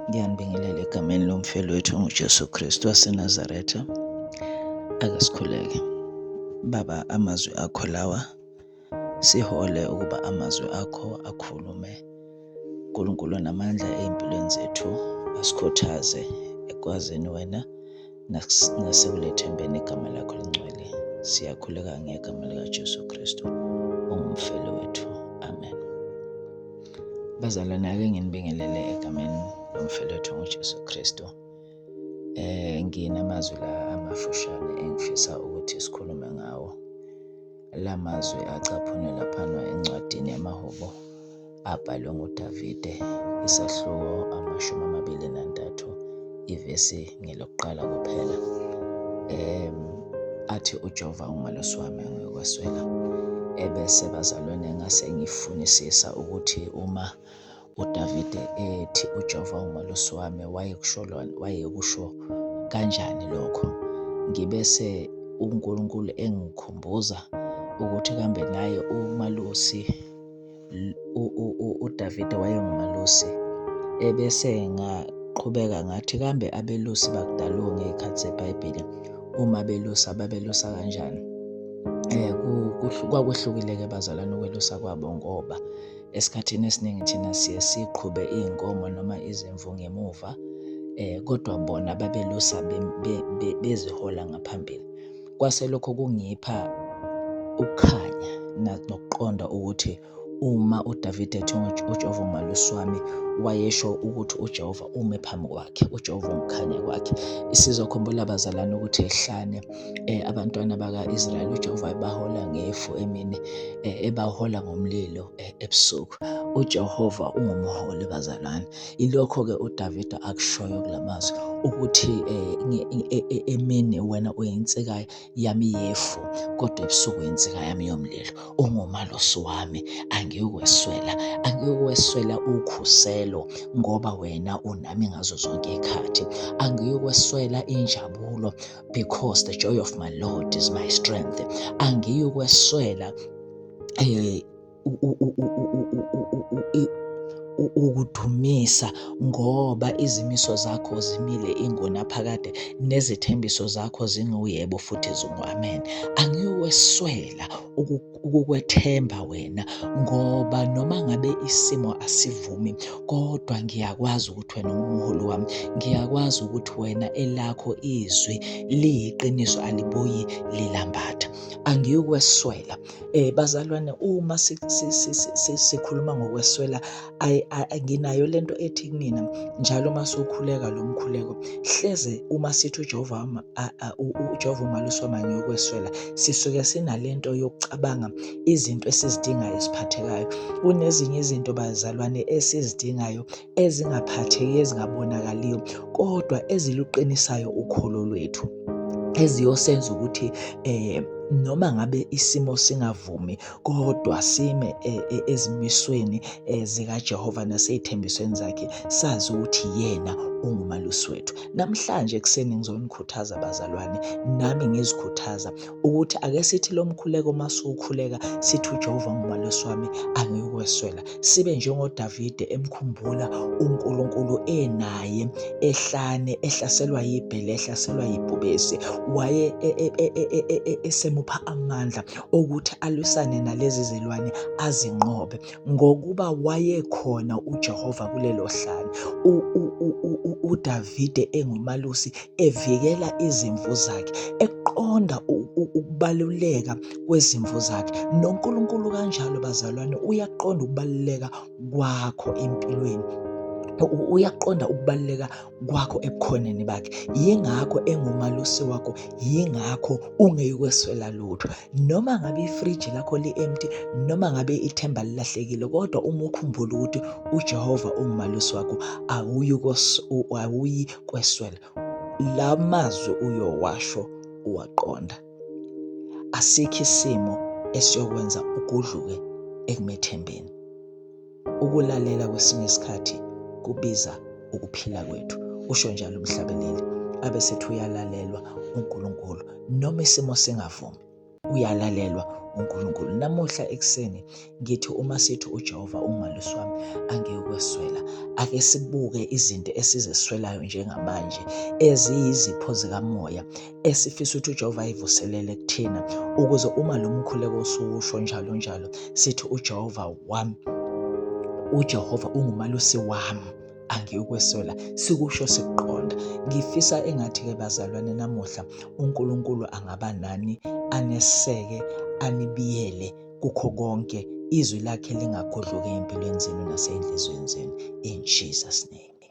Ngiyanibingelela egameni lomfelo wethu nguJesu Kristu waseNazaretha. Ake sikhuleke. Baba, amazwi akho lawa sihole ukuba amazwi akho akhulume. Nkulunkulu namandla ezimpilweni zethu asikhuthaze ekwazini wena nasekulethembeni igama lakho lingcwele siyakhuleka ngegama likajesu kristu ongumfelo wethu amen bazalwane ake nginibingelele egameni lomfelo wethu ngujesu kristu eh nginamazwi la amafushane engifisa ukuthi sikhulume ngawo la mazwi acaphunwe laphana encwadini yamahubo abhalwe nguDavide, isahluko amashumi amabili nantathu, ivesi ngelokuqala kuphela. Um, athi uJehova ungelosi wami angiyokweswela. Ebese bazalwane ngase ngifunisisa ukuthi uma uDavide ethi uJehova ungelosi wami wayekusho wayekusho kanjani lokho. Ngibese uNkulunkulu engikhumbuza ukuthi kambe naye umalusi uDavide wayengumalusi ebese ngaqhubeka ngathi kambe abelusi bakudalo ngey'khathi zeBhayibheli uma belusa babelusa kanjani eh kwakwehlukile-ke bazalwane ukwelusa kwabo ngoba esikhathini esiningi thina siye siqhube iy'nkomo noma izimvu ngemuva eh kodwa bona babelusa bezihola ngaphambili. Kwase lokho kungipha ukukhanya nokuqonda ukuthi uma uDavide ethi uJehova umalusi wami wayesho ukuthi uJehova ume phambi kwakhe uJehova umkhanya kwakhe isizokhumbula abazalwane ukuthi ehlane eh, abantwana baka-Israyeli uJehova ebahola ngefu emini eh, ebahola ngomlilo eh, ebusuku uJehova ungumholi bazalwane Ilokho-ke uDavida akushoyo kula mazwi ukuthi eh, emini wena uyinsika yami yefu kodwa ebusuku uyinsika yami yomlilo ungumalosi wami angiyokweswela angiyokweswela ukhuselo ngoba wena unami ngazo zonke ikhathi angiyokweswela injabulo because the joy of my lord is my strength angiyokweswela eh, ukudumisa ngoba izimiso zakho zimile ingunaphakade nezithembiso zakho zinguyebo futhi zingu-amen angiweswela ukukwethemba wena ngoba noma ngabe isimo asivumi kodwa ngiyakwazi ukuthi wena ungumholi wami ngiyakwazi ukuthi wena elakho izwi liyiqiniso alibuyi lilambatha angiweswela Eh bazalwane uma sikhuluma ngokweswela nginayo lento ethi kumina njalo uma sokhuleka lo mkhuleko hleze uma sithi uJehova uJehova umaluso manye yokweswela sisuke sinalento yokucabanga izinto esizidingayo esiphathekayo kunezinye izinto bazalwane esizidingayo ezingaphatheki ezingabonakaliyo kodwa eziluqinisayo ukholo lwethu eziyosenza ukuthi eh noma ngabe isimo singavumi kodwa sime eh, eh, ezimisweni eh, zikaJehova nasezithembisweni zakhe sazi ukuthi yena ungumalusi wethu namhlanje ekuseni ngizonikhuthaza bazalwane nami ngizikhuthaza ukuthi ake sithi lo mkhuleko uma siwukhuleka sithi uJehova ngumalwesi wami angikweswela sibe njengoDavide emkhumbula uNkulunkulu enaye ehlane ehlaselwa yibhele ehlaselwa yibhubesi waye e, e, e, esemupha amandla okuthi alwisane nalezi zilwane azinqobe ngokuba wayekhona uJehova kulelo hlane uDavide engumalusi evikela izimvu zakhe eqonda ukubaluleka kwezimvu zakhe noNkulunkulu kanjalo bazalwane uyaqonda ukubaluleka kwakho empilweni uyaqonda ukubaluleka kwakho ebukhoneni bakhe yingakho engumalusi wakho yingakho ungeyikweswela lutho noma ngabe ifriji lakho li-empty noma ngabe ithemba lilahlekile kodwa uma ukhumbula ukuthi ujehova ungumalusi wakho awuyi kweswela la mazwi uyowasho uwaqonda asikho isimo esiyokwenza ugudluke ekumethembeni Ukulalela kwesinye isikhathi kubiza ukuphila kwethu, usho njalo umhlabeleli. Abe sethi uyalalelwa uNkulunkulu noma isimo singavumi, uyalalelwa uNkulunkulu. Namuhla ekuseni ngithi uma sithi uJehova ungumalusi wami angeke ukweswela. Ake sibuke izinto esizeswelayo njengamanje eziyizipho zikamoya esifisa ukuthi uJehova ayivuselele kuthina ukuze uma lo mkhuleko usuwusho njalo njalo sithi uJehova wami uJehova ungumalusi wami angiyokweswela sikusho sikuqonda ngifisa engathi-ke bazalwane namuhla unkulunkulu angaba nani aneseke anibiyele kukho konke izwi lakhe lingagudluki empilweni zenu naseyinhliziyweni zenu in jesus name